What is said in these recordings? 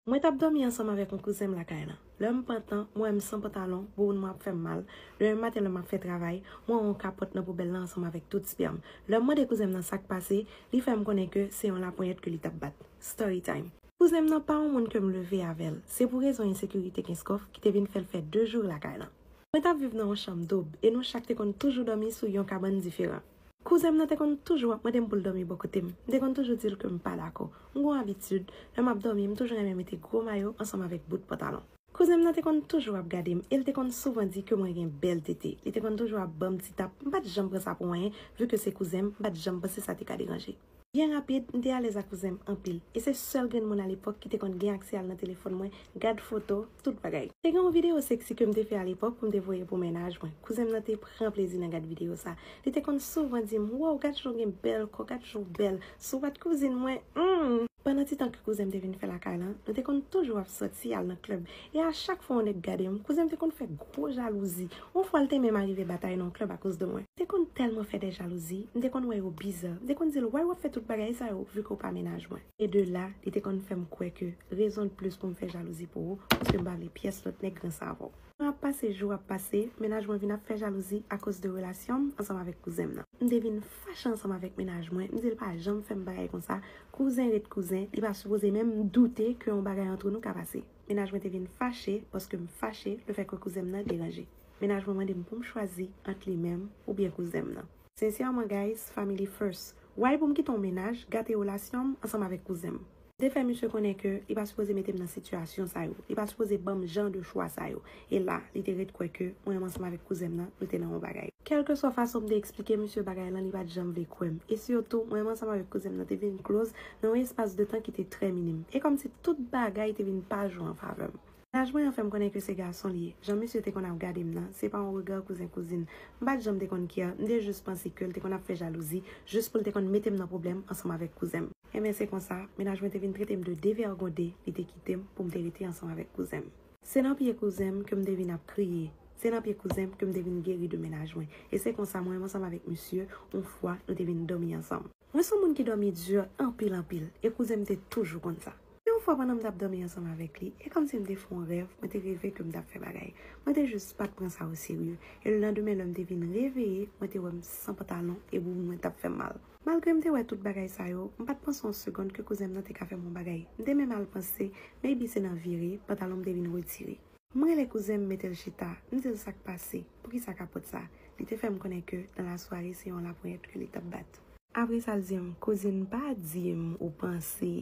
Mwen t ap dòmi ansanm avèk yon kouzen m lakay lan. Lè m pantan, m wè m san pantalon, bouboun mwen ap fè m mal. Demen maten lè m ap fè travay, m wè yon kapòt nan poubèl lan ansanm avèk tout spèm. Lè m mande kouzen m nan sa k pase, li fè m konnen ke se yon laponyèt ke li t ap bat. Storytime. Kouzen m nan pa yon moun ke m leve avè l. Se pou rezon ensekirite Kenskòf ki te vin fè l fè de jou lakay lan. Mwen t ap viv nan yon chanm doub e nou chak te konn toujou dòmi sou yon kabann diferan. Kouzen m nan te konn toujou ap mande m pou l dòmi bò kote m. M te konn toujou di l ke m pa dakò. M gon abitid, lè m ap dòmi, m toujou renmen mete gwo mayo ansanm avèk bout pantalon. Kouzen m nan te konn toujou ap gade m e l te konn souvan di ke mwen gen bèl tete. Li te konn toujou ap ban m ti tap. M pa t janm pran sa pou anyen, vi ke se kouzen m, m pa t janm panse sa te ka deranje. Byen rapid, m te alèz ak kouzen m anpil, e se sèl grenn moun alepòk ki te konn gen aksè al nan telefòn mwen, gad foto, tout bagay. Te gen yon videyo seksi ke m te fè alepòk pou m te voye pou mennaj mwen. Kouzen m nan te pran plezi nan gad videyo sa. Li te konn souvan di m, Woww, gad jan w gen bèl kò, gad jan w bèl, souwat kouzin mwen, humm! Pandan ti tan ke kouzen m te vin fè lakay lan, nou te konn toujou ap sòti al nan klèb, E a chak fwa yon nèg gade m, kouzen m te konn fè gwo jalouzi. Yon fwa l te menm arive batay nan yon club akoz de mwen. M te konn tèlman fè dè jalouzi, m te konn wè yo biza. M te konn di l, why w ap fè tout bagay sa yo vu ke w pa mennaj mwen? E de la, li te konn fè m kwè ke rezon de plus pou m fè jalouzi pou ou, paske m pa vle pyès lòt nèg gran sa avè w. Tan ap pase, jou ap pase, mennaj mwen vin ap fè jalouzi akoz de relasyon m ansanm avèk kouzen m nan. M te vin fache ansanm avèk mennaj mwen, m di l pa janm fè m bagay konsa, Kouzen ret kouzen, li pa sipoze menm doute ke yon bagay antre nou ka pase. Mennaj mwen te vin fache paske m fache lefè ke kouzen m nan deranje. Mennaj mwen mande m pou m chwazi ant li menm oubyen kouzen m nan. Sincèrement guys, family first. Why pou m kite yon mennaj gate relasyon m ansanm avèk kouzen m? M te fè misye konnen ke li pa sipoze mete m nan sitiyasyon sa yo, li pa sipoze ban m jan de chwa sa yo. E la, li te ret kwè ke mwen ansanm avèk kouzen m nan, nou te nan yon bagay. Kèlkeswa fason m te eksplike misye bagay lan, li pa t janm vle kwè m. E sitou, mwen ansanm avèk kouzen m nan te vin kloz nan yon espas de tan ki te trè minim. E kòmsi tout bagay te vin pa jwe an favè m. Laj mwen an fè m konnen ke se gason li ye. Jan misye te konn ap gade m nan, se pa yon rega kouzen-kouzin. M pa t janm te konn kè, m te jis panse ke l te konn ap fè jalouzi, jis pou l te konn mete m nan pwoblèm ansanm avèk kouzen m. Enben, se konsa, mennaj mwen te vin trete m de devègonde, li te kite m pou m te rete ansanm avèk kouzen m. Se nan pye kouzen m ke m te vin ap kriye. Se nan pye kouzen m ke m te vin geri de menaj mwen. E se konsa mwen ansanm avèk misye, yon fwa, nou te vin dòmi ansanm. Mwen se yon moun ki dòmi di anpil anpil, e kouzen m te toujou konn sa. Yon fwa pandan m t ap dòmi ansanm avèk li, e kòmsi m te fè yon rèv, mwen te reve ke m t ap fè bagay. Mwen te jis pa t pran sa oserye. E lelandemen lè m te vin reveye, mwen te wè m san pantalon e bouboun mwen t ap fè m mal. Malgre m te wè tout bagay sa yo, m pa t panse yon segond ke kouzen m nan te ka fè m yon bagay. M te menm al panse maybe se nan vire, pantalon m te vin retire. M rele kouzen m mete l chita, m di l sa k pase, poukisa kapòt sa. Li te fè m konnen ke nan lasware se yon laponyèt ke li t ap bat. Apre sa l di m, kouzin pa di m ou panse.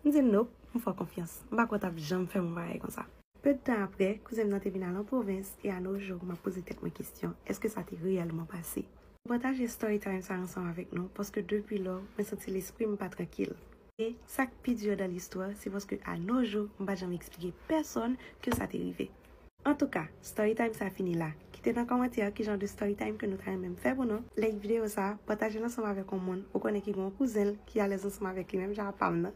M di l nope, m fè w konfyans. M pa kwè w t ap janm fè m yon bagay konsa. Peu de tan aprè, kouzen m nan te vin al an pwovens e a nos jours m ap poze tèt mwen kesyon, èske sa te reyèlman pase? M pataje story time sa ansanm avèk nou paske depi lò, mwen santi lespri m pa trankil. E, sa k pi dur dans l'histoire, se paske a nos jours, m pa t janm eksplike pèsonn ke sa te rive. Antouka, story time sa fini la. Kite nan kòmantè ki jan de story time ke nou ta renmen m fè pou nou. Like videyo sa, pataje l ansanm avèk yon moun ou konnen ki gen yon kouzen l ki alèz ansanm avèk li menm jan ak pa m nan.